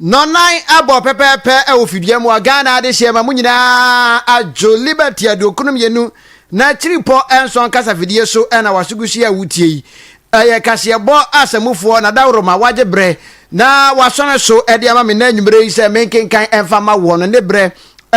Nɔnan abɔ pɛpɛɛpɛ wɔ fidua mu a Ghana adehyeɛ ma mo nyinaa adwo Liberty aduokron mmienu na akyiripɔ nson kasafidie so na wasogusie a wotie yi. Ɛyɛ kaseɛbɔ asamufoɔ na daworo ma wagye berɛ na wasɔne so de ama me na anwummerɛ yi sɛ menkenkan mfa ma woɔ no ne berɛ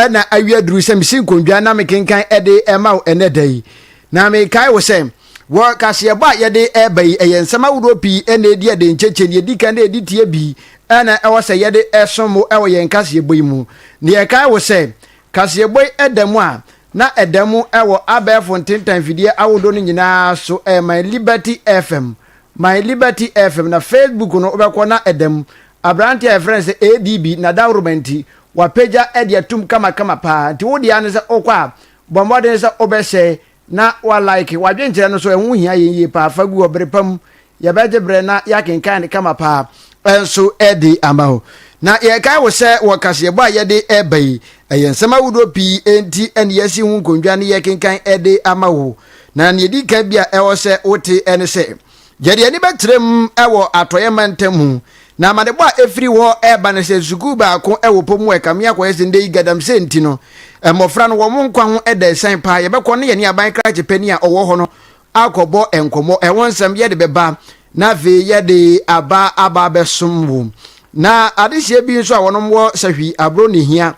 na awi aduru sɛ mesi nkondwa na mekenkan de ma wo ɛnɛ da yi. Na mekae wo sɛ, wɔ kaseɛbɔ a yɛde reba yi, ɛyɛ nsɛm ahodoɔ pii na ɛdi adenkyekyɛ. Deɛ ɛdi kan dɛ ɛdi tie bi na ɛwɔ sɛ yɛde som mo wɔ yɛn kaseɛbɔ yi mu. Na yɛkae wo sɛ, kaseɛbɔ yi da mu a, na ɛda mu wɔ abɛɛfo ntentan mfidie ahodoɔ no nyinaa so, ɛyɛ My Liberty FM, My Liberty FM. Na Facebook no wobɛkɔ na ɛda mu. Aberanteɛ a yɛfrɛ no sɛ ADB, n'adahoroma nti, wapagya de atom kamakama paa. Nti wo deɛ ara ne sɛ wokɔ a, Bɔ mmɔden sɛ wobɛhyɛe na woalaeke. W'adwenkyerɛ no so, ɛho hia yɛn yie paa. Fa gu hɔ bere pa mu. Yɛbɛgye bere na yɛakenkan no kama paa nso de ama wo. Na yɛkae wo sɛ wɔ kaseɛbɔ a yɛde reba yi, ɛyɛ nsɛm ahodoɔ pii nti ne yɛasi ho nkondwa ne yɛkenkan de ama wo. Na nea ɛdi kan bi a ɛwɔ sɛ wote ne sɛ. Yɛde ani bɛtrɛm wɔ Atɔeɛ mantam ho, na amanebɔ a ɛfiri hɔ reba ne sɛ sukuu baako wɔ pɔ mu a ɛkame akɔyɛ sɛ nnɛ yi galamsey nti no mmɔfra no wɔn nkwa ho da asiane paa. Yɛbɛkɔ ne yɛne aban krakye panin a ɔwɔ hɔ no akɔbɔ nkɔmmɔ, ɛho nsɛm yɛde bɛba na afei yɛde aba aba abɛsom wo. Na adehyeɛ bi nso a wɔnom wɔ sɛ hwi aburo ne hia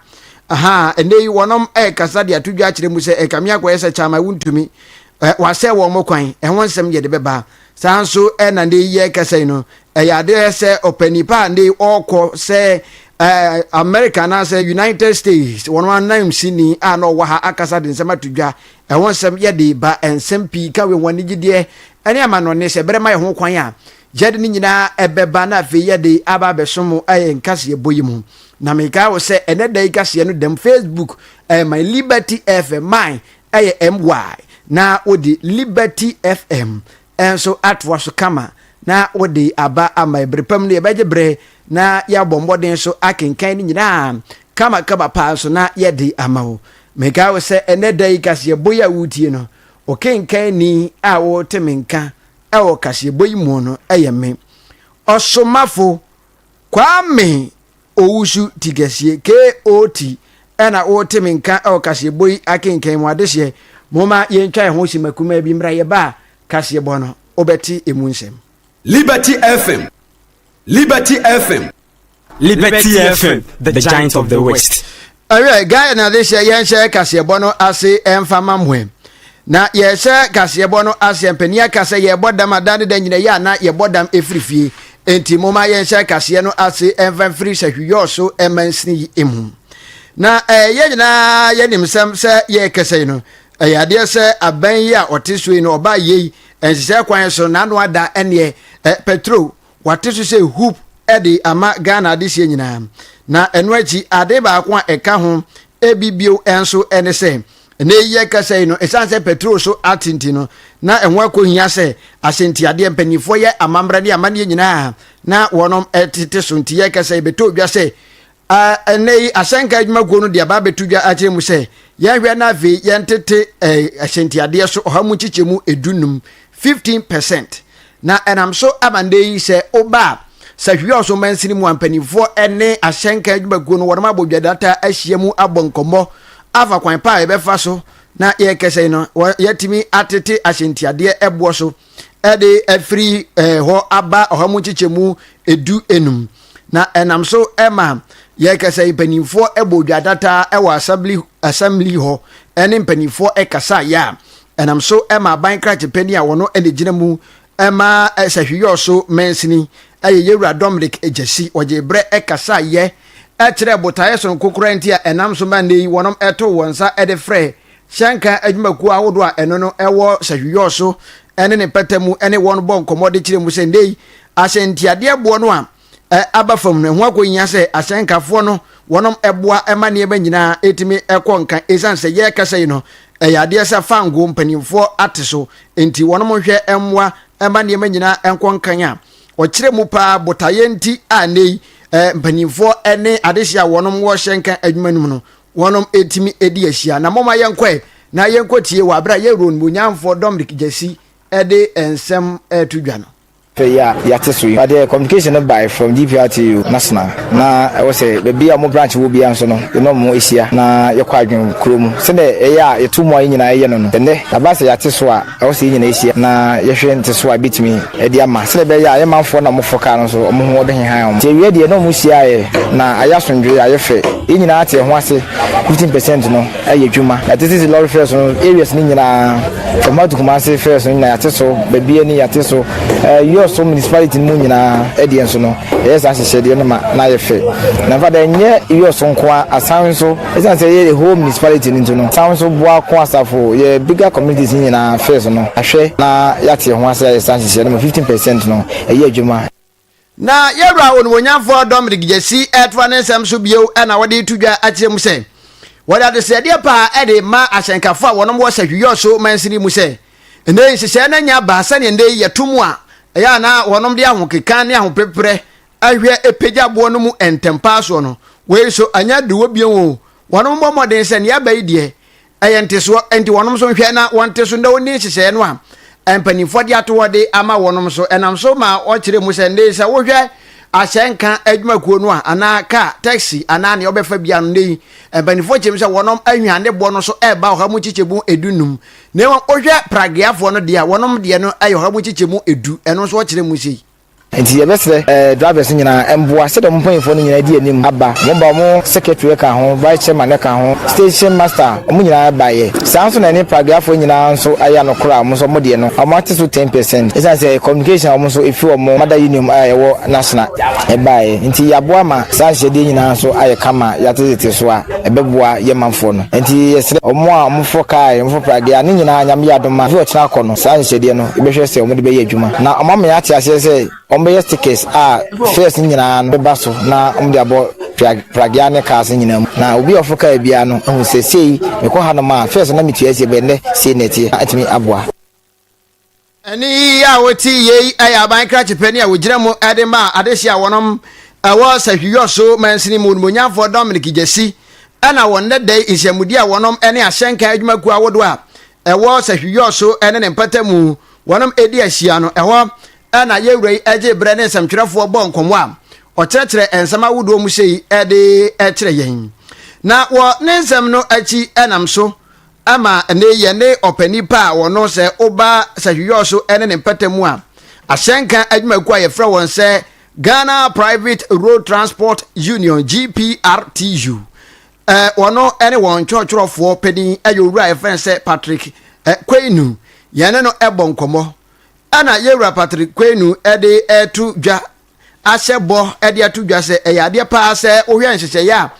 aha nnɛ yi wɔnom ɛkasa de ato dwa akyerɛ mu sɛ ɛkame akɔyɛ sɛ kyama wontumi wɔasɛe wɔn kwan, ɛho nsɛm yɛ de bɛba. Saa nso na nnɛ yi yɛrekasa yi no, ɛyɛ adeɛ sɛ ɔpɛ nipa a nnɛ yi ɔrekɔ sɛ America anaasɛ United States wɔn anan sini a na ɔwɔ ha akasa de nsɛm ato dwa, ɛho nsɛm yɛ de ba nsɛm pii ka wɔ wɔn anigyedeɛ ɛne amanɔne sɛ bɛrɛ ma yɛ ho kwan a yɛde ne nyinaa ɛbɛba na afei yɛde aba abɛsom ɛyɛ nkaseɛ bɔ yi mu. Na mekae wo sɛ ɛnɛ da yi kaseɛ no dɛm Facebook, uh, my liberty FM, my Ɛyɛ MY na wode Liberty FM nso atoa so kama na wode aba ama yɛn. Bere pa mu no, yɛbɛgye bere na yɛabɔ mmɔden nso akenkan ne nyinaa kamakama paa nso na yɛde ama wo. Mekae wo sɛ ɛnɛ da yi kaseɛbɔ yi a woretie no, ɔkenkanni a wote me nka wɔ kaseɛbɔ yi mu no yɛ me. Ɔsomafo Kwame Owusu Tigasie, KOT, na wote me nka wɔ kaseɛbɔ yi akenkan mu. Adehyeɛ, momma yɛntwa yɛn ho simma kumaa bi mmra yɛba a kaseɛbɔ no, wobɛte ɛmu nsɛm. Liberty FM, Liberty FM. Liberty FM, the giant of the west. Ɛhwɛ, Ghana na de hyɛ yɛnhyɛ kaseɛbɔ no ase ɛmfa ma mo ɛ. Na yɛhyɛ kaseɛbɔ no ase mpanin aka sɛ yɛbɔ dam a da ne da nyina yɛ a na yɛbɔ dam ɛfiri fie. Enti moma yɛnhyɛ kaseɛ no ase ɛmfa mfiri sahwiyɔɔ so ɛmansini yi mu. Na ɛɛ yɛn nyinaa yɛnim sɛm sɛ yɛrekɛsɛ yi no ɛyɛ adeɛ sɛ abɛn yi a ɔte so yi no ɔbaa yei nhyehyɛ kwan so n'ano ada ɛneɛ ɛ petro Wɔate so sɛ hoop de ama Ghana adehyeɛ nyinaa, na ɛno akyi ade baako a ɛka ho bi bio nso ne sɛ ɛnɛ yi yɛkasa yi no ɛsiane sɛ petrol so ate nti no na ɛho akɔhia sɛ ahyɛntiadeɛ mpanimfoɔ yɛ amammerɛ ne amanneɛ nyinaa na wɔnom tete so nti yɛkasa yi bɛtɔ dwa sɛ A Ɛnnɛ yi, asɛnka adwuma kuo no de aba abɛto dwa akyerɛ mu sɛ yɛnhwɛ na afei yɛntete ahyɛntiadeɛ so ɔha mu nkyekyɛmu edu num, 15 percent, na ɛnam so ama nnɛ yi sɛ woba a Sahwiri Ɔsom Mansini mu a mpanimfoɔ ne asɛnka adwuma kuo no wɔnom abɔ dwadata ahyia mu abɔ nkɔmmɔ afa kwan pa a yɛbɛfa so na yɛrekɛsɛn no yɛatumi atete ahyɛntiadeɛ boɔ so ɛde afiri eh, hɔ aba ɔha mu nkyekyɛmu edu enum na ɛnam so ɛma yɛkasa mpanimfoɔ ɛbɔ dwa data ɛwɔ assembly assembly hɔ ɛne mpanimfoɔ ɛkasa yɛ a ɛnam so ɛma aban krakye panyin a wɔn ɛna gyina mu ɛma ɛsɛhwiyɔ so mɛnsini ɛyɛ yɛwura dominic gyasi wɔgye brɛ ɛkasa yɛ ɛkyerɛ botaeɛ soronko koraa nti a ɛnam so ma nnɛ yi wɔnom ɛto wɔn nsa ɛde frɛ Hyɛ nka adwumakuo ahodoɔ a ɛno no wɔ Sahwiyɔɔ so ne ne mpata mu ne wɔn bɔ nkɔmmɔ de kyerɛ mu sɛ nnɛ yi ahyɛntiadeɛboɔ no a aba fam no ɛho akɔhia sɛ ahyɛnkafoɔ no wɔnom boa ma nneɛma nyinaa tumi kɔ nka ɛsiane sɛ yɛrekasa yi no ɛyɛ adeɛ sɛ fangoo mpanimfoɔ ate so nti wɔnom nhwɛ mmoa ma nneɛma nyinaa nkɔ nkan a ɔkyerɛ mu paa botaeɛ nti a nnɛ yi mpanimfoɔ ne adehye a wɔnom wɔ hyɛnka adwuma no mu no wɔnom ɛtumi ɛdi ahyia na moma yɛnkɔɛ na yɛnkɔtie wɔ aberɛ a yɛ Rhone munyamfoɔ Dominic Gyasi ɛde nsɛm ɛreto dwa no. pɛ yi a yɛate so yi. But the communication no bae from GPRTU national na ɛwɔ sɛ baabi a ɔmo branch wɔ biara nso no yɛne ɔmo ɛhyia na yɛkɔ adwene kuro mu sɛdeɛ ɛyɛ a yɛto mu a yɛn nyinaa yɛyɛ no no. Ɛnnɛ aba sɛ yɛate so a. Ɛwɔ sɛ yɛn nyinaa hyia na yɛhwɛ nteso a yɛbɛtumi de ama sɛdeɛ ɛbɛyɛ a yɛn manfoɔ no a wɔforo kaa no nso wɔn ho ɔbɛhehan wɔn. Nti awieɛ deɛ na wɔhyiaeɛ na ayɛ asomdwoeɛ, ayɛ fɛ. Yɛn nyinaa te ɛho ase, fifteen percent no ayɛ adwuma. Yɛte sisi lorry fares no areas no nyinaa, Tamale to Kumasi fares no nyinaa yɛate so, Babia ni yɛate so, Jos so municipality no mu nyinaa ɛdeɛ nso no yɛyɛ saa nhyehyɛdeɛ no ma no ayɛ fɛ. Na in fact ɛnyɛ Jos nko ara, Asan nso. Ɛsiane sɛ yɛ the whole municipality no nti no, san nso boa ko asafo, yɛ bigger communities no nyinaa fees no ahwɛ na yɛate yɛn ho ase ayɛ saa nhyehyɛe no ma fifteen percent no ɛyɛ adwuma. Na yɛn Wura Onimuonyamfoɔ Dominic Gyasi retoa ne nsɛm so bio na ɔde reto dwa akyerɛ mu sɛ, wɔde adesrɛdeɛ paa de rema ahyɛnkafoɔ a wɔnom wɔ Sahwi-Yorso mansini mu sɛ, ɛnnɛ yi nhyehyɛe no anya aba sɛdeɛ ɛnnɛ yi yɛto mu a ɛyɛ a na wɔnom de ahokeka ne ahopeprɛ ahwɛ pagya boɔ no mu ntɛmpaa soɔ no, wei nso ɛnyɛ aduruwɔ bio o, wɔnom bɔ mmɔden sɛ nea aba yi deɛ ɛyɛ ntesoɔ, enti wɔnom nso nhwɛ na wɔnte so na wɔnni nhyehyɛeɛ no a mpanimfoɔ de ato hɔ de ama wɔnom nso. Ɛnam so ma ɔkyerɛ mu sɛ nnɛyi sɛ wohwɛ ahyɛnka adwumakuo no a anaa kaa, taxi anaa nea ɔbɛfa bia no, nnɛyi mpanimfoɔ kyerɛ mu sɛ wɔnom ahwan ne boɔ no so ɛreba ɔha mu nkyekyɛmu edu num, na mmom wohwɛ pragueafoɔ no deɛ a wɔnom deɛ no ɛyɛ ɔha mu nkyekyɛmu edu, ɛno nso ɔkyerɛ mu sei. Ntsi yɛbɛserɛ drivers no nyina mboa sɛdeɛ ɔmo mpanyinfoɔ no nyina adi anim aba, ɔmo ba ɔmo secretary ka ho, vice chairman ka ho, station master ɔmo nyina baeɛ. Saa nso na ɛne pragueafoɔ nyina nso ayɛ anokora a ɔmo nso ɔmo deɛ no ɔmo ate so ten percent esiane sɛ communication a ɔmo nso efiri ɔmo mother union a ɛwɔ Nashna baeɛ nti yaboa ma saa nhyiadeɛ nyina nso ayɛ kama yate tete so a ɛbɛboa yɛn manfoɔ no. Nti yɛserɛ ɔmo a ɔmo fɔ car, ɔmo fɔ praguea ne nyina Nyame yɛ adom a efi ɔkyena kɔ no, saa nhyehyɛdeɛ no bɛhwɛ sɛ wɔde bɛyɛ adwuma. Na wɔama yɛate aseɛ sɛ wɔbɛyɛ stickers a fairs no nyinaa no bɛba so na wɔde abɔ Pragya ne cars no nyinaa mu. Na obi a ɔfo kaa biara no ahu sɛ sei mekɔ hanom a fairs no na metua asie bɛn dɛ sei na ɛteɛ na atumi aboa. Ɛne yi a wɔte yei yɛ aban krakye pɛ ne a wɔgyina mu de ma adehye a wɔnom ɛwɔ sahwiyɔ so mansini mu onimonyamfoɔ Dominic Gyasi ɛna wɔn nnɛdɛi nhyiamudie a wɔnom ne ahyɛnka adwumakuo ahodoɔ a ɛwɔ Sahwiyɔ so ne ne mpata mu wɔnom ɛdi ahyia no, ɛhɔ na yɛn wura yi ɛgye berɛ ne nsɛmtwerɛfoɔ bɔ nkɔmmɔ a ɔkyerɛkyerɛ nsɛm ahodoɔ mu sei ɛde ɛkyerɛ yɛn. Na wɔ ne nsɛm no akyi ɛnam so ɛma ɛnɛ yɛn ne ɔpɛ nipa a wɔno sɛ woba Sahwiyɔ so ne ne mpata mu a ahyɛnka adwumakuo a yɛfrɛ wɔn sɛ Ghana Private Road Transport Union, GPRTU, Ɔno ne wɔn twerɛtwerɛfoɔ panin yɛ owura a yɛfrɛ no sɛ Patrick Quainu. Yɛne no bɔ nkɔmmɔ. Ɛna yɛwura Patrick Quainu de to dwa ahyɛ bɔ de ato dwa sɛ ɛyɛ adeɛ paa sɛ wohwɛ nhyehyɛeɛ a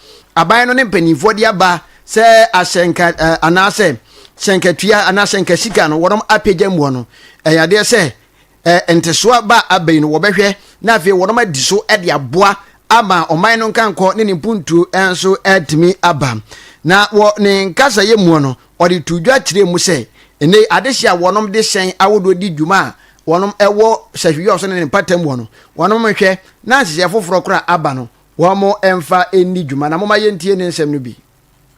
aban no ne mpanimfoɔ de aba sɛ ahyɛnka anaasɛ hyɛnkatua anaa hyɛnkasika no wɔnom apagya muɔ no ɛyɛ adeɛ sɛ eh, ntesoa ba abɛn no wɔbɛhwɛ na afei wɔnom adi so de aboa ama ɔman no nkankɔ ne ne mpuntuo nso atumi aba na wɔ ne nkasayɛ muo no ɔde to dwa kyerɛ mu sɛ ɛnɛ adehye a wɔnom de hyɛn ahodoɔ di dwuma a wɔnom ɛwɔ sahwiyɔ so ne ne mpata muo no wɔnom nhwɛ na nhyehyɛ foforɔ koraa aba no wɔn mfa ɛnni dwuma na moma yɛntie ne nsɛm no bi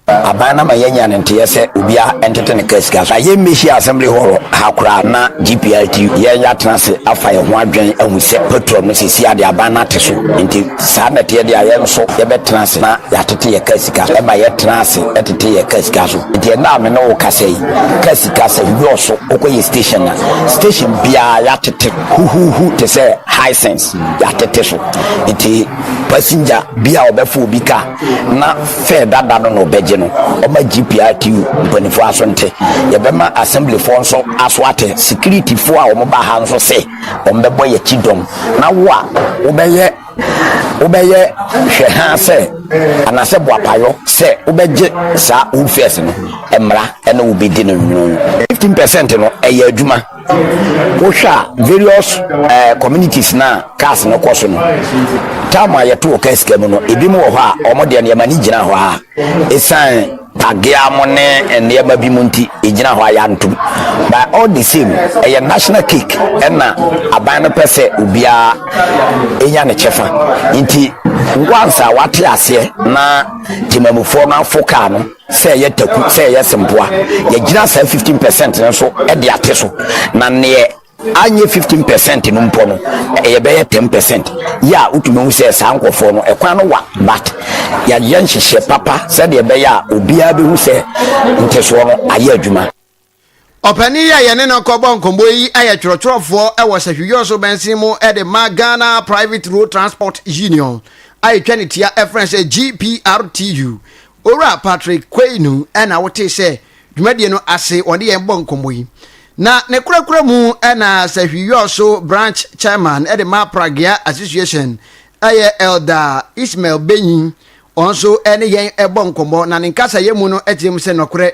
Aban no ama yɛanya ne nteyɛ sɛ obiara ntete ne kaa sika so a yɛmmɛhyia assembly hall ha koraa na GPRT yɛn atena ase afa yɛn ho adwɛn ahu sɛ petrol no sɛsi adeɛ aban no ate so nti saa na ɛteɛ deɛ a yɛn nso yɛbɛtena ase na yɛatete yɛ kaa sika so ɛma yɛtena ase ɛtete yɛ kaa sika so nti ɛnna a me ne wo kasa yi kaa sika sɛ yɔɔso wokɔ yɛ station na station biara yɛatete huhuhu te sɛ Hisense yɛatete so nti passenger bi a ɔbɛfo obi kaa na fɛ dada no na ɔbɛgye no ɔma GPRTU mpanimfoɔ aso nte yɛbɛma assemblyfoɔ nso aso ate securityfoɔ a wɔn ba ha nso se wɔn bɛbɔ yɛ akyi dɔm na wo a wobɛyɛ wobɛyɛ hwɛ ha sɛ anasɛ boapayɔ sɛ wobɛgye saa wood fairs no mmara ɛna wobɛdi no nwunu 15 percent no ɛyɛ adwuma wohwɛ a various uh, communities na cars no kɔ so no tam a yɛto wɔ kaa sika mu no ebi mu wɔ hɔ a wɔn deɛ nneɛma no gyina hɔ a ɛsiane pagea mo ne nneɛma bi mu nti ɛgyina hɔ a yɛantom by all the same ɛyɛ national cake ɛna aban no pɛ sɛ obiara ɛnya ne kyɛfa nti once a wate aseɛ na temamufoɔ no afo kaa no sɛ ɛyɛ taku sɛ ɛyɛ sempoa yɛgyina saa 15 percent no so de ate so na neɛ anyɛ 15 percent no mpɔ no yɛbɛyɛ 10 percent yɛ a wotumi hu sɛ saa nkɔfoɔ no ɛkwan no wa but yɛayɛ nhyehyɛ papa sɛdeɛ ɛbɛyɛ a obiara bɛhu sɛ ntesoɔ no ayɛ adwuma Ɔpanin yi a yɛne no kɔbɔ nkɔmmɔ yi yɛ twerɛtwerɛfoɔ wɔ Sahwiyɔ so bɛnsen mu de ma Ghana Private Road Transport Union a ɛtwa ne tia ɛfrɛ sɛ GPRTU. Owura Patrick Kwainu na wotee sɛ dwumadie no ase wɔde yɛn bɔ nkɔmmɔ yi. Na ne korakora mu na Sahwiyɔ so branch chairman de ma Pragea Association ɛyɛ Elder Ismail Benyi ɔno nso ne yɛn bɔ nkɔmmɔ na ne nkasayɛ mu no kyerɛ mu sɛ nɔkorɛ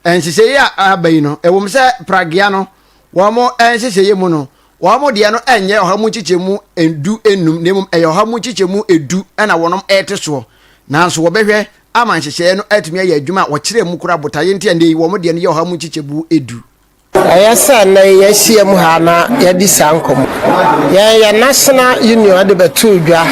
Nhyehyɛeɛ a aba yi no, ɛwom sɛ pragea no wɔn nhyehyɛeɛ mu no, wɔn deɛ no nyɛ ɔha mu nkyekyɛmu du nnum na mmom ɛyɛ ɔha mu nkyekyɛmu du na wɔn rete soɔ, nanso wɔbɛhwɛ ama nhyehyɛeɛ no atumi ayɛ adwuma a wɔkyerɛ mu koraa botaeɛ nti a nnɛ yi wɔn deɛ no yɛ ɔha mu nkyekyɛmu du. Ɛyɛ sɛ nnɛ yi yɛahyiam ha na yɛadi saa nkɔmmɔ yi. Yɛn yɛn National Union de bɛtoo dwa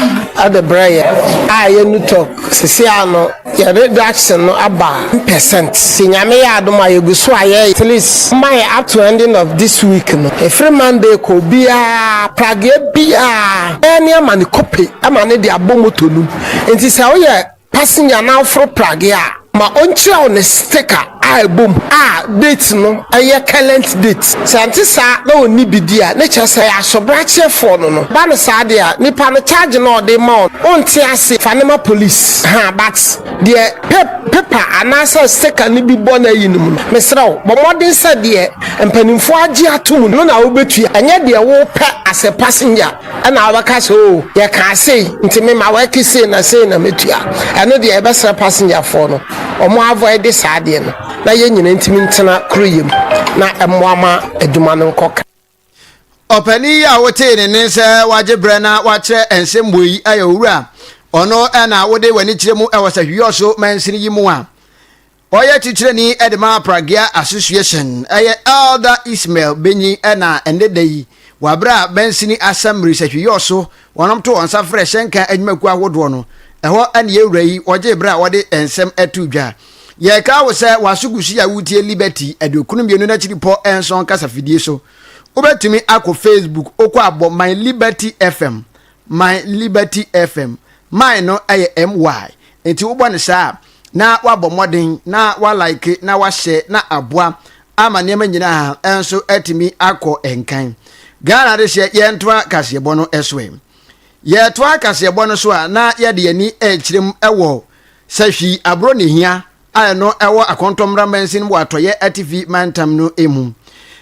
de brɛ yɛn a ɛyɛ NUTOC. Sese ara no, yɛn reduction no aba one percent. Nti Nyame yɛ adom a yɛgu so a yɛyɛ. At least momma yɛn up to ending of this week no, ɛfiri Monday kɔ obiara, Pragueɛ biara, bɛyɛ nneɛma ne kope ma no de abɔ motor no mu. Nti sɛ woyɛ Passenger no aforo pragea a, ma ɔnkyerɛ wo ne sticker a ɛbɔ mu a date no yɛ current date. Sɛ ɛnte saa na ɔnni bi di a, na kyerɛ sɛ ɛyɛ asobrakyerɛfoɔ no no. Ba no saa deɛ a, nipa no charge no a ɔde rema wo no, wonte ase, fa no ma police. Ha, but deɛ pa paper anaasɛ sticker no bi bɔ no ayi no mu no, mesrɛ wo, bɔ mmɔden sɛ deɛ mpanimfoɔ agye atom no na wobɛtua, ɛnyɛ deɛ wopɛ as a passenger. Ɛna wobɛka sɛ, Oo, yɛkaa sei, nti me ma wɛke sei na sei na mɛtua. Ɛno deɛ yɛbɛsrɛ passenger-foɔ no wɔn avoide saa adeɛ no na yɛn nyinaa ntumi ntena koro yɛ mu na ɛmmoa ma adwuma no nkɔ kã. Ɔpanin yi a wotee ne nne sɛ wagye berɛ na wakyerɛ nsɛmbuo yi yɛ Owura. Ɔno na wode w'ani kyerɛ mu wɔ Sahwiɔso mansini yi mu a Ɔyɛ titrani de ma Pragya Association yɛ Elder Ismael Benyi na ɛnnɛ da yi wɔ bere a Mansini Assembly sahwi yɔɔ so wɔnom to wɔn nsa frɛ hyɛnka adwumakuo ahodoɔ no, ɛhɔ ne yɛn wura yi ɔgyee bere a ɔde nsɛm too dwa. Yɛrekae wo sɛ w'aso gu so yi a woretie Liberty aduokunu mmienu n'akyiripɔ nson kasafidie so. Wobɛtumi akɔ Facebook, wokɔ abɔ My Liberty FM my liberty fm my no ɛyɛ my nti wobɔ no saa na wabɔ mmɔden na walike na wahyɛ na aboa ama nneɛma nyinaa ɛnso atumi akɔ nkan ghana de hyɛ yɛntoa kaseɛbɔ no ɛso ɛ yɛtoa kaseɛbɔ no so a na yɛde yɛni ɛkyerɛ mu ɛwɔ sahwi aburo ne hia a ɛno ɛwɔ akɔntɔmmra mansin wɔ atɔyɛ atifi mantam no emu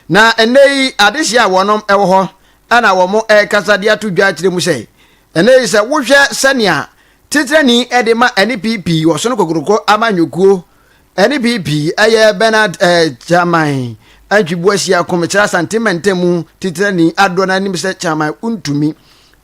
na ɛnɛ yi adehyeɛ a wɔnom ɛwɔ hɔ na wɔrekasa de ato dwa akyerɛ mu sɛ, Ɛnnɛ yi sɛ wohwɛ sɛnea titrani de ma ɛne pii pii wɔ so no kokoroko amanyɔkuo ɛne pii pii ɛyɛ Bernard eh, Kyaman Antwiboa Hyia Komekyerɛ Asante Mantam mu titrani adɔ no anim sɛ Kyaman wontumi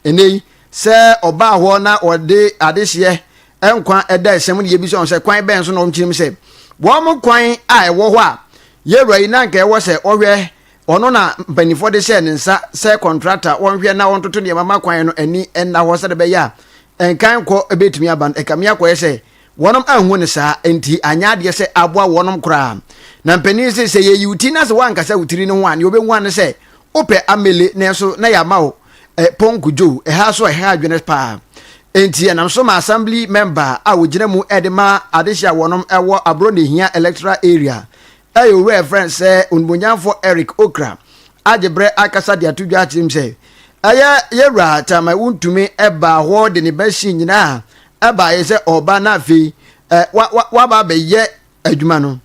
ɛnɛ yi sɛ ɔbaa hɔ na ɔde adehyeɛ nkwa ɛda ɛsɛm no yɛbisa wɔn sɛ kwan bɛn so na wɔkyerɛ mu sɛ wɔn kwan a ɛwɔ hɔ a yɛwura yi na anka ɛwɔ sɛ ɔhwɛ Ɔno na mpanimfoɔ de hyɛɛ ne nsa sɛ kɔntrata a wɔnhwɛ na wɔntoto nneɛma ma kwan no ani nna hɔ sɛdeɛ ɛbɛyɛ a nkan kɔ bɛtumi aba no. Ɛkame akɔyɛ sɛ wɔnom anhu no saa, enti anyɛ adeɛ sɛ aboa wɔnom koraa. Na mpanin yi se, sɛ yɛyi wo ti na sɛ woankasa wo tiri no ho a, nea ɔbɛhu ara ne sɛ wopɛ amele, nanso na yɛama wo Pɔnko Joe. Ɛha nso ɛha adwene pa ara, enti ɛnam so ma Assembly Mɛmba a ɔgyina mu de ma adehye a wɔnom wɔ Aborɔ na Ɛhia Electoral Area Ɛyɛ Owura yɛfrɛ no sɛ Onimonyamfoɔ Eric Okra agye berɛ akasa de ato dwa akyerɛ mu sɛ, Ɛyɛ yɛn Wura Tama Wontumi baa hɔ de ne machine nyinaa baeɛ sɛ ɔreba na afei waba abɛyɛ adwuma no.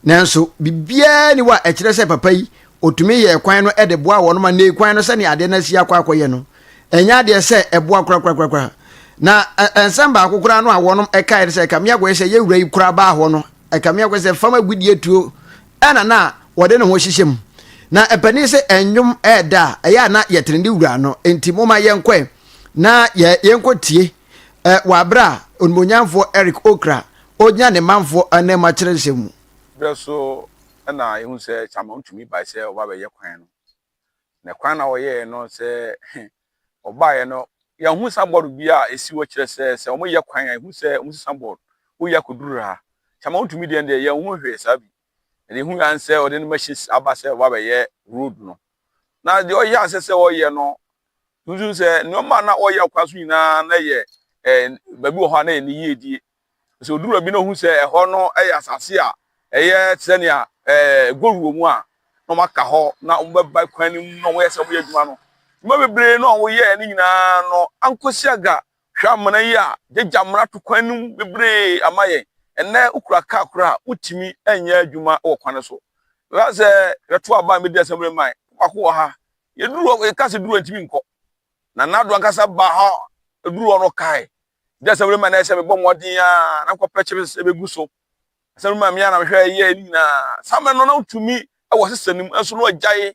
Nanso biribiara nni hɔ a ɛkyerɛ sɛ papa yi ɔtumi yɛɛ kwan no de boaa wɔn ma nnei kwan no sɛdeɛ adeɛ no asi akɔ akɔyɛ no ɛnyɛ adeɛ sɛ ɛboa korakorakorakora. Na nsɛm baako koraa no a wɔnom kaeɛ ne sɛ, Ɛkame akɔyɛ sɛ yɛn Wura yi koraa baa hɔ no Ɛkame akɔ sɛ fam agudeɛ tuo na na wɔde ne ho hyehyɛ mu. Na ɛpanin sɛ ɛnwom ɛɛda a, ɛyɛ a na yɛtene ne wura no. Enti moma yɛnkɔɛ na yɛnkɔ tie wɔ aberɛ a onimonyamfoɔ Eric Okra ɔgyina ne manfoɔ anam akyerɛ nsɛm mu. Berɛ so na yɛhunu sɛ Chaman tumi bae sɛ ɔba bɛyɛ kwan no. na kwan na ɔyɛɛ no sɛ ɔbaeɛ no yɛahu sanbɔɔd bi a ɛsi hɔ kyerɛ sɛ sɛ wɔyɛ kwan a ɛhu sɛ wɔsi sanbɔɔd woyɛ akɔduru ha nti ama wotumi deɛ deɛ yɛnhu hwee saa bi ɛde hu yɛn sɛ ɔde ne machine aba sɛ ɔba bɛyɛ road no na deɛ ɔyɛ asɛ sɛ ɔyɛ no nso sɛ nneɛma na ɔyɛ kwan so nyinaa na yɛ ɛɛ baabi wɔ hɔ a na yɛ ne yie die Sɛ odu baabi na ohu sɛ ɛhɔ no yɛ asase a ɛyɛ te sɛ nea gold wɔ mu a, na wɔaka hɔ na wɔbɛba kwan no mu na wɔyɛ sɛ wɔyɛ adwuma no. Nnwuma bebree no a wɔyɛɛ no nyinaa no, Ankosi-Aga hwɛ amena yi a gyagya mmara to kwan no mu bebree ama yɛn. Ɛnnɛ wokura kaa koraa a, wotumi nyɛ adwuma wɔ kwan no so. Mɛka sɛ yɛbɛto aba a medi asɛm no ma yɛn. Baako wɔ ha, yɛduru hɔ, yɛka sɛ duru hɔ a, ntumi nkɔ. Nana Addo ankasa baa hɔ, oduruu hɔ no ɔkae Ɛnyɛ asɛmrima na ɛyɛ sɛ mebɔ mmɔden a na nkɔpɛ kyere sɛ ɛbɛgu so. Asɛmrima mmea na mehwɛ ɛyɛ ne nyinaa. Saa mmerɛ no na wotumi wɔ sesa no mu nso na wɔagyae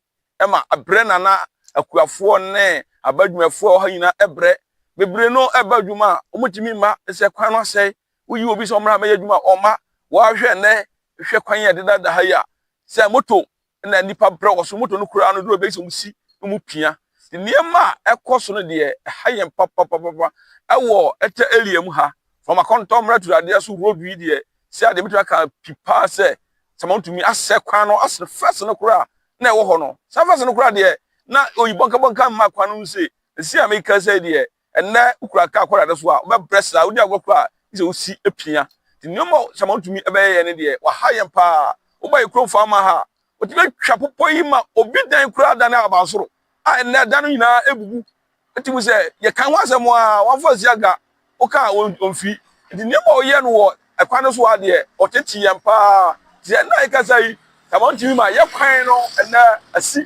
ma abrɛ na na akuafoɔ ne aba adwumayɛfoɔ a wɔha nyinaa brɛ. Bebree no ɛba adwuma a wɔtumi mma sɛ kwan no asɛe. Woyi obi sɛ ɔmmra mɛyɛ adwuma a ɔmma. Wɔahwɛ nnɛ hwɛ kwan yɛ dedaada ha yi a sɛ moto na nnipa brɛ wɔ so moto no koraa no duru bɛyɛ sɛ wɔn si wɔn pia nneɛma a ɛkɔ so no deɛ ɛha yɛn papapapapa ɛwɔ ɛtɛ area mu ha fam akɔntɔ mmara turadeɛ so road yi deɛ sɛ adeɛ bɛtumi aka pi paa sɛ sɛ ma wotumi asɛ kwan no asene fɛs no koraa na ɛwɔ hɔ no saa fɛs no koraa deɛ na oyi bɔnkabɔnka mma kwan no mu se ɛsi a meka sɛ deɛ Ɛnnɛ wokura kaa kɔ dade so a, wobɛbrɛ saa. Wodi agorɔ koraa a, gye sɛ wusi pia. Nti nneɛma a Shammah tumi bɛyɛ yɛn no deɛ, waha yɛn paa. Woba yɛn kurom Falmouth ha a, otumi atwa bepɔ yi ma obi dan koraa da no abansoro a ɛnnɛ da no nyinaa abubu. Wote mu sɛ yɛka ho asɛm a, wɔamfa ansi aga, woka a omfi. Nti nneɛma a ɔyɛ no wɔ ɛkwan no so ha deɛ, ɔtete yɛn paa. Te sɛ ɛnnɛ a yɛkasa yi, Shammah tumi ma yɛn kwan no ɛnnɛ asi.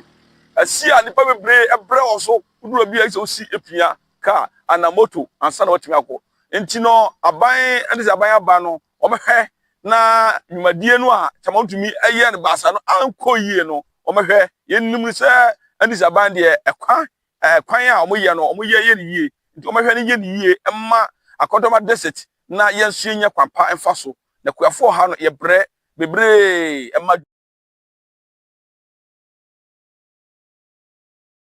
Asi a nnipa bebree brɛ wɔ so. Wodur baabi a ɛsɛ sɛ wosi pia kaa anaa moto ansa na woatumi akɔ. Enti no, aban ne sɛ aban aba no, wɔbɛhwɛ na dwumadie no a Kyama tumi yɛɛ no baasa no ankɔ yie no, wɔbɛhwɛ. Yɛnim sɛ ne sɛ aban deɛ ɛkwan ɛkwan a wɔyɛ no, wɔyɛ yɛ no yie. Nti wɔbɛhwɛ no yɛ no yie mma Akɔdɔma district na yɛn nso yɛnya kwan pa mfa so. Na Kuafoɔ ha no, yɛbrɛ bebree ma.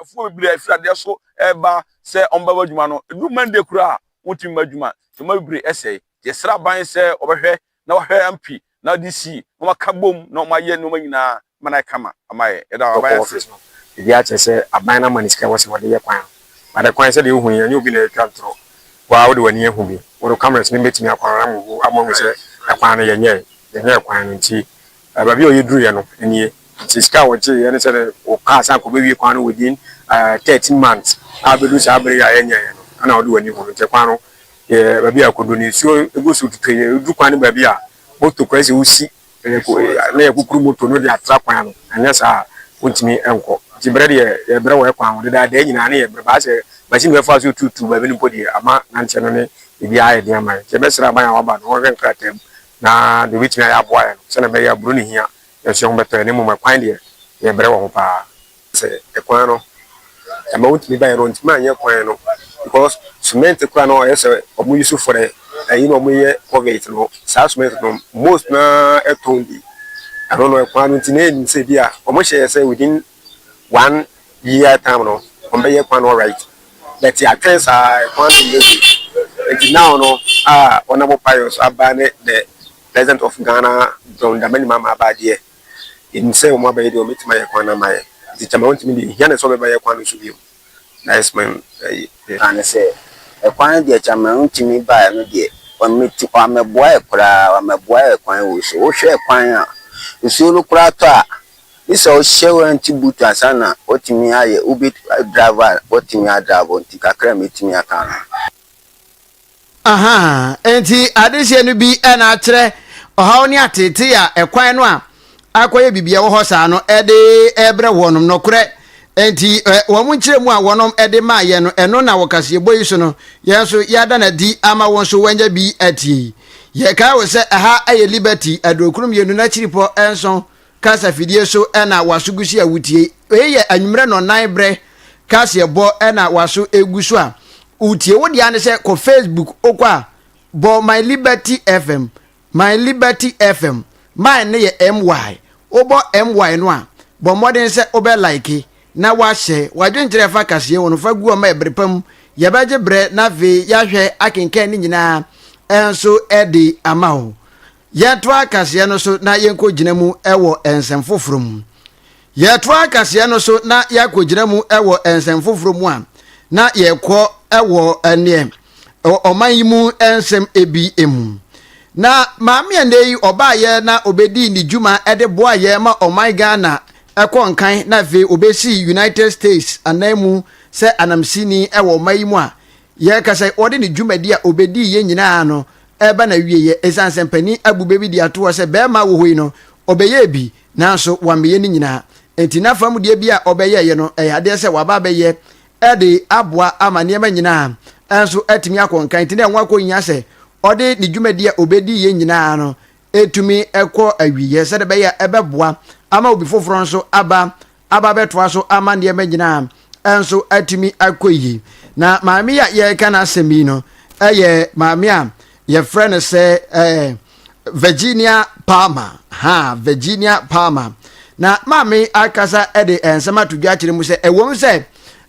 Afuo bebree a ɛfiri adeɛ so reba sɛ wɔn bɛba adwuma no, ɛdu Monday koraa a, wɔntumi mma adwuma. Nti wɔma bebree sɛe. Nti yɛsrɛ aban sɛ wɔbɛhwɛ na wɔahwɛ MP na DC na wɔn aka bom na wɔn ayɛ nnoɔma nyinaa ma no ayɛ kama ama yɛn. Yɛda aban ase. Wokɔ office no, biribiara kyerɛ sɛ aban no ama no sika a ɛwɔ sɛ wɔde yɛ kwan no. But the kwan sɛdeɛ wohu yi, ɛnyɛ obi na ɛretwa ntorɔ. Wo ara wode w'ani ahu bi. Wo cameras no bɛtumi akɔ around mu ama wɔahu sɛ ɛkwan no yɛnyɛe. Yɛnyɛɛ kwan no nti. Ɛɛ, baabi a wɔyɛ duruiɛ no nie. Sɛ sika a wɔgyeeɛ ne sɛ wɔkaa sɛ anka wɔbɛwie kwan no within ɛɛ thirteen months a abɛduru saa bere yi a yɛnyɛeɛ no, ɛna wode w'ani hu no. Nti kwan no yɛɛ baabi a ɛkɔduru no, nsuo gu so tutu. Ɛduru kwan no baabi a, moto koraa sɛ wosi na yɛakukuru moto no de atra kwan ano, anyɛ saa a wontumi nkɔ. Nti berɛ deɛ yɛbrɛ wɔ kwan ho. Dedaadaa nyinaa na yɛbrɛ. Baa sɛ machine bi bɛfaa so retuutuu baabi no mpo deɛ, ama nanteɛ no ne biribiara ayɛ den ama yɛn. Nti yɛbɛsrɛ aban a wɔaba no wɔnhwɛ nkrataa mu na deɛ ɔbɛtumi ayɛ aboa yɛn no, sɛdeɛ ɛbɛyɛ a aburo no hia yɛn so yɛn ho bɛtɔ yɛn, na mmom ɛkwan deɛ, yɛbrɛ wɔ ho pa ara. Sɛ ɛkwan no, ɛma wɔntumi baeɛ no, wɔntumi anyɛ kwan no because cement koraa no ɔyɛ sɛ wɔn use for the ɛyi na wɔn yɛ covert no, saa cement no most no ara ɛtɔn bi, ɛno no ɛkwan no nti na yɛnim sɛ bi a wɔn hyɛ yɛ sɛ within one year time no wɔn bɛ yɛ kwan no alright but atwɛn saa kwan no nyɛ good nti now no a wɔn abɔ payɔ so aba ne the president of ghana john dramani mahama aba adeɛ yɛnim sɛ wɔn abɛyɛ deɛ wɔn bɛtumi ayɛ kwan no ama yɛ nti kyɛma wɔn tumi deɛ hia ne sɛ wɔn bɛyɛ kwan no so bio that is my ɛyi. ka ne sɛ ɛkwan no deɛ kyɛma wɔn tumi baeɛ no deɛ wɔn mɛtu wɔn amɛboa yɛ koraa wɔn amɛboa yɛ kwan wɔ so wohwɛ kwan a nsuo no koraa tɔ a Gye sɛ ɔhyɛ warranty boot ansa na watumi ayɛ Uber driver a watumi adrabo nti kakra a mɛtumi aka no. Ahaa, enti adehyeɛ no bi na akyerɛ ɔhaw ne ateetee a ɛkwan no a akɔyɛ biribi a ɛwɔ hɔ saa no de rebrɛ wɔnom. Nokorɛ, enti wɔn nkyerɛmu a wɔnom de maa yɛn no, ɛno na wɔ kaseɛbɔ yi so no yɛn nso yɛada no adi ama wo nso woanya bi atie yi. Yɛkae wo sɛ ɛha yɛ Liberty, Aduokron Mmienu n'akyiripɔ nson Kasafidie so na w'aso gu so a wotie. Wei yɛ anwummerɛ nnɔnnan berɛ kaseɛbɔ na w'aso gu so a wotie. Wo deɛ ne sɛ kɔ Facebook wokɔ a bɔ My Liberty FM. My Liberty FM. My no yɛ MY. Wobɔ MY no a bɔ mmɔden sɛ wobɛ like na wahyɛ w'adwenkyerɛ fa kaseɛ ho no fa gu ɔma ɛberɛ pa mu. Yɛbɛgye berɛ na afei yɛahwɛ akenkan ne nyinaa nso de ama wo. Yɛtoa kaseɛ no so na yɛnkɔgyina mu wɔ nsɛm foforɔ mu. Yɛtoa kaseɛ no so na yɛakɔgyina mu wɔ nsɛm foforɔ mu a, na yɛkɔ wɔ ɛneɛ ɔman yi mu nsɛm ebi mu. Na maame ɛnɛ yi ɔbaayɛ na ɔbɛdii ne dwuma de boa yɛ ma ɔman Ghana ɛkɔ nkan na afei ɔbɛsi United States anan mu sɛ anamsini wɔ ɔman yi mu a yɛka sɛ ɔde ne dwumadi a ɔbɛdii yɛ nyinaa no ɛreba n'awieeɛ ɛsiane sɛ mpanin abu bɛ bi de ato hɔ sɛ barima a ɔwɔ hɔ yi no, ɔbɛyɛɛ bi nanso wammɛyɛ ne nyinaa. Enti n'afa mu deɛ bi a ɔbɛyɛeɛ no, ɛyɛ adeɛ sɛ waba abɛyɛ de aboa ama nneɛma nyinaa nso atumi akɔ nkan. Enti na ɛho akɔhia sɛ ɔde ne dwumadie a ɔbɛdiiɛ nyinaa no ɛtumi kɔ awieɛ sɛdeɛ ɛbɛyɛ ɛbɛboa ama obi foforɔ nso aba aba bɛtoa so ama nneɛma nyinaa nso atumi akɔ yie na maame yi a yɛreka no asɛm yi no ɛyɛ maame a yɛfrɛ no sɛ ɛɛ virginia palmer ha virginia palmer na maame akasa de nsɛm ato dwa akyerɛ mu sɛ ɛwom sɛ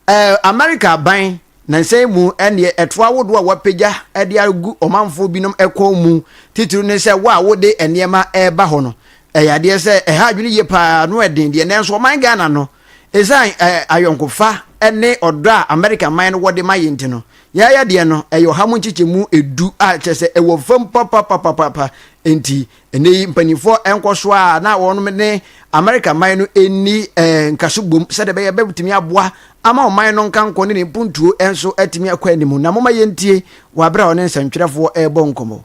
ɛɛ america aban Nnansa yi mu ɛnneɛ, ɛtoa ahodoɔ a wɔapagya de agu ɔmanfoɔ binom kɔn mu titiriw ne sɛ wo a wode nneɛma reba hɔ no, ɛyɛ adeɛ sɛ ɛha adwene yie pa ara, ano ɛden deɛ. Nanso ɔman Ghana no, ɛsiane ayɔnkofa ne ɔdɔ a Amerika man no wɔ de ma yɛn nti no, yɛn yadeɛ no, ɛyɛ ɔha mu nkyekyɛmu edu a kyerɛ sɛ ɛwɔ fam papapapapapa nti Ɛnnɛ yi, mpanimfoɔ nkɔ so a na wɔn ne Amerika man no nni eh, nkaso bom sɛdeɛ ɛbɛyɛ bɛtumi aboa ama ɔman no nkankɔ ne ne mpuntuo nso atumi akɔ anim. Na moma yɛntie wɔ aberɛ a ɔne nsɛntwerɛfoɔ rebɔ nkɔmmɔ.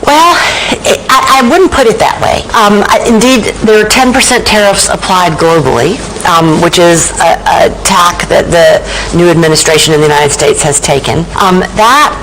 Well, I, I wouldn't put it that way. Um, I, indeed, there are 10% tariffs applied globally, um, which is a, a, tack that the new administration in the United States has taken. Um, that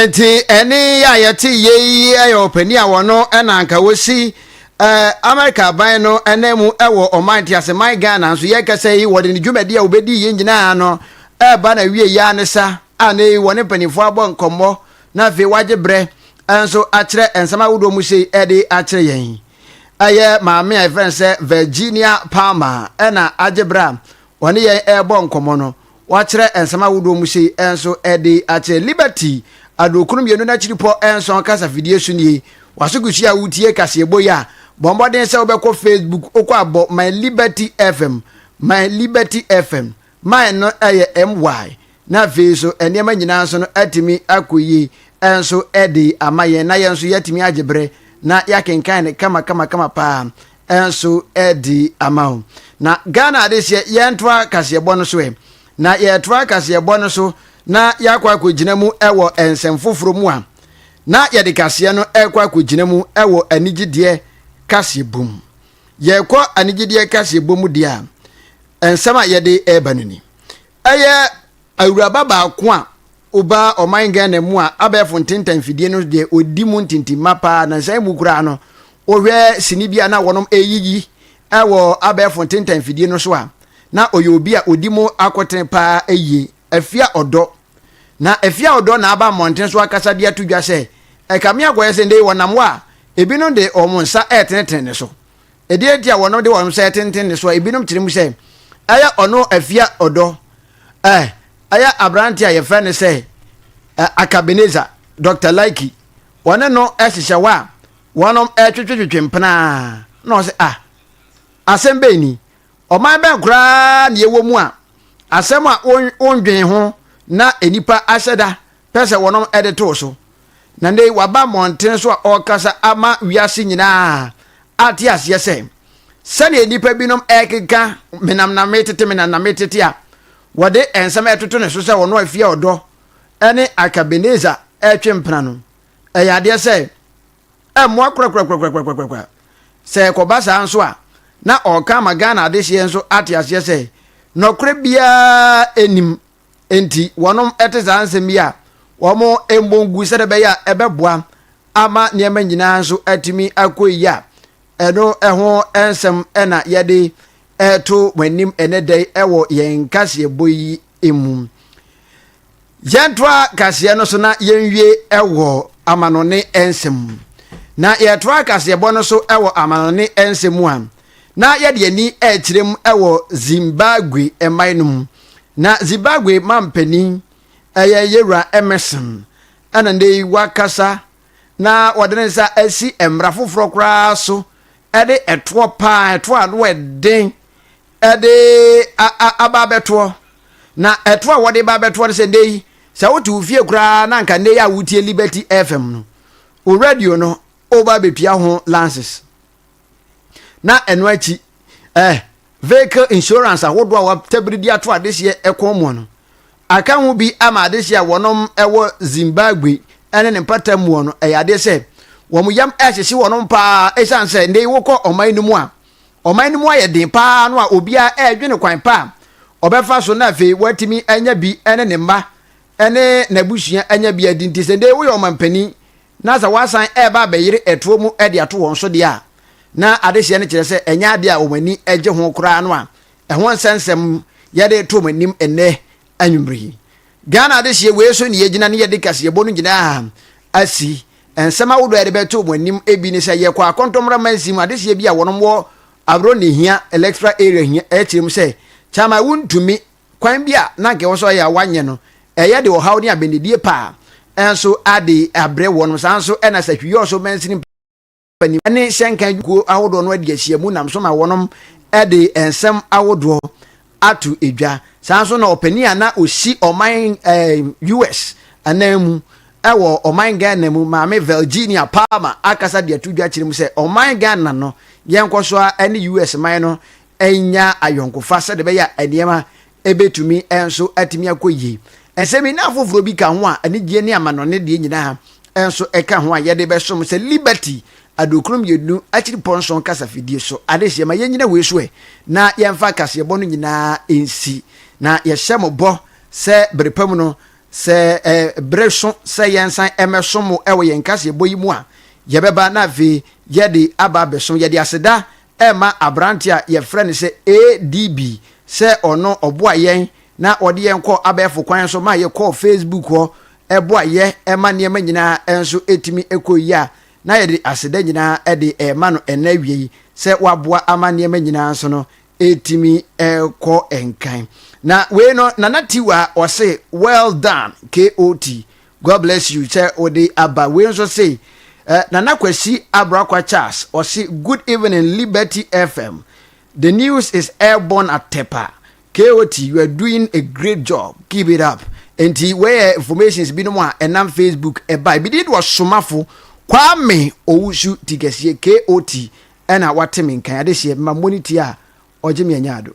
Nti ɛne yɛ a yɛte yɛ yi yɛ ɔpanin a wɔno na anka wɔsi Amerika aban no nan mu wɔ ɔman te ase man Ghana nso yɛkɛsɛ yi wɔde ne dwumadi a wɔbɛdi yɛ nyinaa no ɛba na wie yɛ ne sa a na yi wɔne mpanimfoɔ abɔ nkɔmmɔ na afei wagye berɛ nso akyerɛ nsɛm ahodoɔ mu sei ɛde akyerɛ yɛn ɛyɛ maame a yɛfrɛ no sɛ Virginia Palmer ɛna agye berɛ a wɔne yɛn ɛrebɔ nkɔmmɔ no wɔakyerɛ nsɛm ahodoɔ mu sei nso de akyerɛ Liberty Adurokron Mmienu N'akyiripɔ Nson Kasa Fidie So Nie W'asokuhyia a Wotie Kaseɛbɔ Yi a Bɔ mmɔden sɛ wobɛkɔ Facebook wokɔ a bɔ My Liberty FM My Liberty FM My no yɛ MY na afei nso nneɛma nyinaa nso no atumi akɔ yie nso de ama yɛn na yɛn nso yɛatumi agye berɛ na yɛakenkan no kama kama kama paa nso adi ama wo. Na Ghana adehyeɛ yɛntoa kaseɛbɔ no so ɛ. Na yɛtoa kaseɛbɔ no so na yɛakɔ akɔgyina mu wɔ nsɛm foforɔ mu a, na yɛde kaseɛ no rekɔ akɔgyina mu wɔ anigyedeɛ kaseɛbɔ mu. Yɛkɔ anigyedeɛ kaseɛbɔ mu deɛ a, nsɛm a yɛde reba no ni. Ɛyɛ Awuraba baako a obaa ɔman Ghana mu a abɛɛfo ntenta mfidie no deɛ ɔdi mu ntintimma paa. Nansa yi mu koraa no, wohwɛ sini bi a na wɔnom ɛreyiyi wɔ abɛɛfo ntenta mfidie no so a, na ɔyɛ obi a ɔdi mu akotene paa yie. Afia Ɔdɔ. Na Afia Ɔdɔ na aba mmɔnten so akasa de ato dwa sɛ, ɛkame akɔyɛ sɛ nnɛ yi wɔnam hɔ a, ɛbinom de wɔn nsa ɛretenetene ne so. Ɛdeɛn nti a wɔnom de wɔnom sɛ tenten ne soɔ? Ebinom kyerɛ mu sɛ ɛyɛ ɔno afia ɔdɔ. Eh, ɛyɛ aberante a yɛfrɛ no sɛ eh, Akabeneza, Dr. Laiki. Wɔne no hyehyɛ hɔ a wɔnom twetwetwetwe mpenaa. Na ɔsɛ, ah, asɛm bɛn ni? Ɔman bɛn koraa na yɛwɔ mu a asɛm a wondwen ho na nnipa ahyɛ da pɛ sɛ wɔnom de too so. Na nnɛ yi waba mmɔnten so a ɔrekasa ama wiase nyinaa ate aseɛ sɛ sɛdeɛ nnipa binom ɛrekeka menam na metete menam na metete a wɔde nsɛm ɛtoto ne so sɛ ɔno afie ɔdɔ ɛne akabeneza ɛretwe mpena no ɛyɛ adeɛ sɛ ɛmmoa korakorakorakorakorakorakora sɛ ɛkɔba saa nso a na ɔreka ama Ghana adehyeɛ nso ate aseɛ sɛ nɔkorɛ biara ɛnim Enti wɔnom te saa nsɛm yi a, wɔn mmɔ ngu sɛdeɛ ɛbɛyɛ a ɛbɛboa ama nneɛma nyinaa nso atumi akɔ yie a, ɛno ɛho nsɛm na yɛde ɛreto wɔn anim ɛnɛ da yi ɛwɔ yɛn kaseɛbɔ yi mu. Yɛntoa kaseɛ no so na yɛnwie ɛwɔ amanɔne nsɛm mu. Na yɛtoa kaseɛbɔ no so ɛwɔ amanɔne nsɛm mu a, na yɛde yɛn ani rekyerɛ mu wɔ Zimbabwe mmae no mu. Na Zimbabwe manpanin yɛ Yewura Emmerson, ɛna nnɛ yi wakasa na wɔde ne nsa asi mmara foforɔ koraa so de ɛtoɔ paa, ɛtoɔ a ano ɛden de aba abɛtoɔ. Na ɛtoɔ a wɔde ba abɛtoɔ no sɛ nnɛ yi, sɛ wote wo fie koraa na anka nnɛ yi a wotie Liberty FM no, wo radio no woba abɛtua ho lances. na ɛno akyi eh, vehicle insurance ahodoɔ a wɔatabiri de ato adehyeɛ ɛkɔn mu no aka ho bi ama adehyeɛ a wɔnom ɛwɔ zimbabwe ɛne ne mpata mu no ɛyɛ adeɛ sɛ wɔn yam ɛhyehye wɔnom paa ɛsiane sɛ ndɛ yi wokɔ ɔman no mu a ɔman no mu ayɛ den paa no a obiara ɛredwene kwan pa a ɔbɛfa so na afei watumi anya bi ɛne ne mma ɛne n'abusua anya bi adi nti sɛ ndɛ yi woyɛ ɔmampanin na sɛ wɔasan reba abɛyere ɛtoɔ mu de ato wɔn so deɛ a, na adehyeɛ no kyerɛ sɛ ɛnyɛ adeɛ a wɔn ani gye ho koraa no a, ɛho nsɛnsɛm yɛde reto wɔn anim nnɛ anwummere yi. Ghana adehyeɛ wei so na yɛgyina ne yɛde kaseɛbɔ no nyinaa asi. Nsɛm ahodoɔ a yɛde bɛto wɔn anim bi ne sɛ yɛkɔ akɔntɔmmora mansin mu adehyeɛ bi a wɔnom wɔ Abrɔnnehia electoral area hia kyerɛ mu sɛ Kyaman wontumi kwan bi a na anka ɛwɔ sɛ ɔyɛ a wanyɛ no, ɛyɛ de ɔhaw ne abɛnedie pa a nso ade abrɛ wɔnom. Saa nso na Sahwiyɔɔ so mansini mpanin ne hyɛnka adwumakuo ahodoɔ no adi ahyia mu nam so ma wɔnom de nsɛm ahodoɔ ato dwa. Saa nso na ɔpanin a na ɔsi ɔman eh, US anan mu ɛwɔ ɔman Ghana mu maame Virginia Palmer akasa de ato dwa kyerɛ mu sɛ ɔman Ghana no yɛnkɔ so a ɛne US man no anya ayɔnkofa sɛdeɛ ɛbɛyɛ a nneɛma bɛtumi nso atumi akɔ yie. Nsɛmina afoforɔ bi ka ho a anigyeɛ ne amanɔne deɛ nyinaa nso ka ho a yɛde bɛsom sɛ Liberty Aduokron Mmienu Akyiripɔ Nson kasafidie so. Adesua ma yɛnnyina wei so ɛ na yɛmfa kaseɛbɔ no nyinaa nsi. Na yɛhyɛ mo bɔ sɛ bere pa mu no, sɛ bere so sɛ yɛnsan mmɛsom mo wɔ yɛn kaseɛbɔ yi mu a, yɛbɛba na afei yɛde aba abɛsom. Yɛde aseda ɛremma aberante a yɛfrɛ no sɛ ADB sɛ ɔno ɔboa yɛn na ɔde yɛn kɔ abɛɛfo kwan so ma yɛkɔɔ Facebook hɔ boa yɛ ma nneɛma nyinaa nso tumi kɔɔ yie a, na yɛde aseda nyinaa de rema no ɛnnɛ awiei sɛ waboa ama nneɛma nyinaa nso no retumi kɔ nkan. Na wei no, Nana Tiwa ɔse, Well done, KOT. God bless you sɛ wode aba wei nso se eh, Nana Kwasi Abrakwa Charles ɔse good evening Liberty FM the news is airborne atepa KOT you are doing a great job keep it up nti wei yɛ informations binom a ɛnam Facebook ɛba ebi de ɔsomafo Kwame Owusu ti kɛseɛ KOT ɛna wate me nkan adehyɛ ma mmɔ ne ti a ɔgye me anya ado.